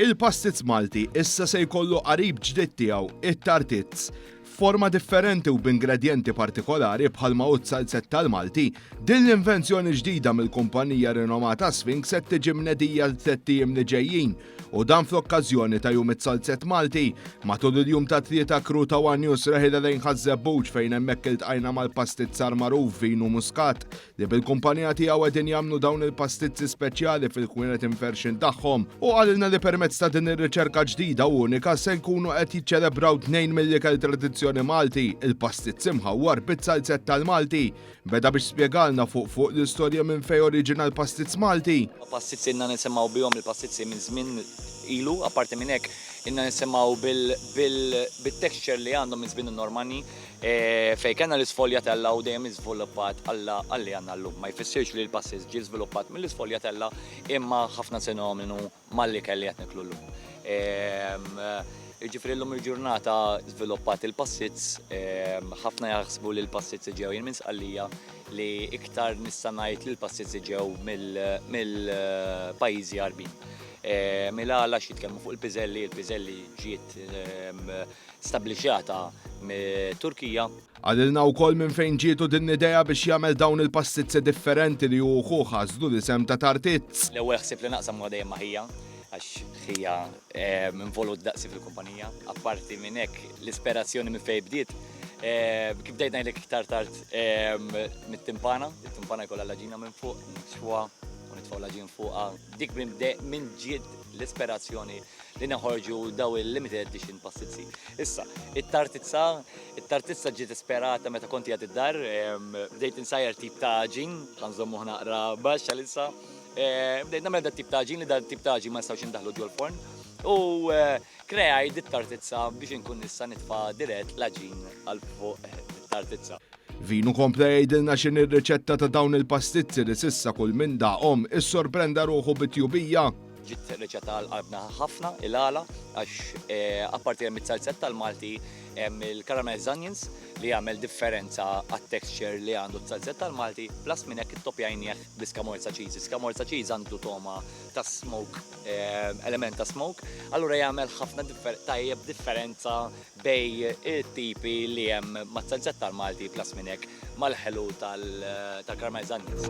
Il-pastizz Malti issa se jkollu qarib ġdid tiegħu, it-tartizz. F'forma differenti u b'ingredjenti partikolari bħalma hu t-salzett tal-Malti, din l-invenzjoni ġdida mill-kumpanija rinomata Sphinx qed tiġi mnedija l-tliet ijiem li ġejjin u dan fl-okkażjoni ta' Jum it-Salzett Malti. Matul il-jum ta' tlieta kru ta' One News reħila lejn Ħaż-Żebbuġ fejn hemmhekk iltqajna mal-pastizzar magħruf Vinu Muscat li bil-kumpanija tiegħu qegħdin jagħmlu dawn il-pastizzi speċjali fil-kwinet imferxin tagħhom u qalilna li permezz ta' din ir-riċerka ġdida u unika se jkunu qed jiċċelebraw tnejn mill-ikel tradizzjoni Malti, il-pastizz imħawwar biz-salzett tal-Malti. Beda biex spjegalna fuq fuq l-istorja minn fejn oriġina l-pastizz Malti. Pastizzi ilna nisimgħu bihom il-pastizzi minn żmien ilu, apparti minn hekk ilna nisimgħu bit-texture li għandhom minn żmien in-Normanni fejn kellna l-isfogliatella u dejjem iżviluppat għal li għandna llum. Ma jfissirx li l-pastizz ġie żviluppat mill-isfogliatella imma ħafna sinonimi. mal-ikel li qed niklu llum. Jiġifieri llum il-ġurnata żviluppat il-passits, ħafna jaħsbu li l-passits iġew jien minn Sqallija li iktar nista' ngħid li l-passits iġew mill-pajjiżi Għarbin. Mill-għala x'jitkellmu fuq il-piżelli, il-piżelli ġiet stabblixxata mit-Turkija. Qalilna wkoll minn fejn ġietu din l-idea biex jagħmel dawn il-pastizzi differenti li hu u ħuh għażlu l-isem ta' Tartizz. L-ewwel ħsieb li naqsam huwa dejjem ma' ħija għax ħija involut daqsi fil-kumpanija. Apparti minn hekk, l-isperazzjoni minn fejn bdiet, kif bdejt ngħidlek iktar tard, mit-timpana. Il-timpana jkollha l-għaġina minn fuq, nixwuha u nitfgħu l-għaġin fuqha. Dik minn ġiet l-isperazzjoni li neħorġu daw il-limited edition passizzi. Issa, it-tartizza, it-tartizza ġiet esperata meta konti għad id-dar, bdejt insajjar tip ta' ġin, għanżommu ħnaqra baxxa l-issa, bdejt namel da' tip ta' ġin li da' tip ta' ġin ma nistawx indaħlu ġol forn. U kreaj dit tartizza biex inkun nista' nitfa dirett laġin għal fuq tartizza. Vinu kompla jgħidilna x'inhi r-riċetta ta' dawn il-pastizzi li s'issa kull min daqhom issorprenda ruħu bi tjubija. Ġiet riċetta għal qalbna ħafna, il-għala, għax eh, apparti hemm it-salzetta l-Malti hemm il-caramel onions li jagħmel differenza għat-texture li għandu t-salzetta l-Malti, plus minn hekk ittopjajnieh bl-iskamorza cheese. Iskamorza cheese għandu toma ta' smoke, eh, element ta' smoke, allura jagħmel ħafna tajjeb differenza bejn it-tipi li hemm mat-Zenzett tal-Malti plus minn hekk mal-ħelu tal-Carmel Zannies.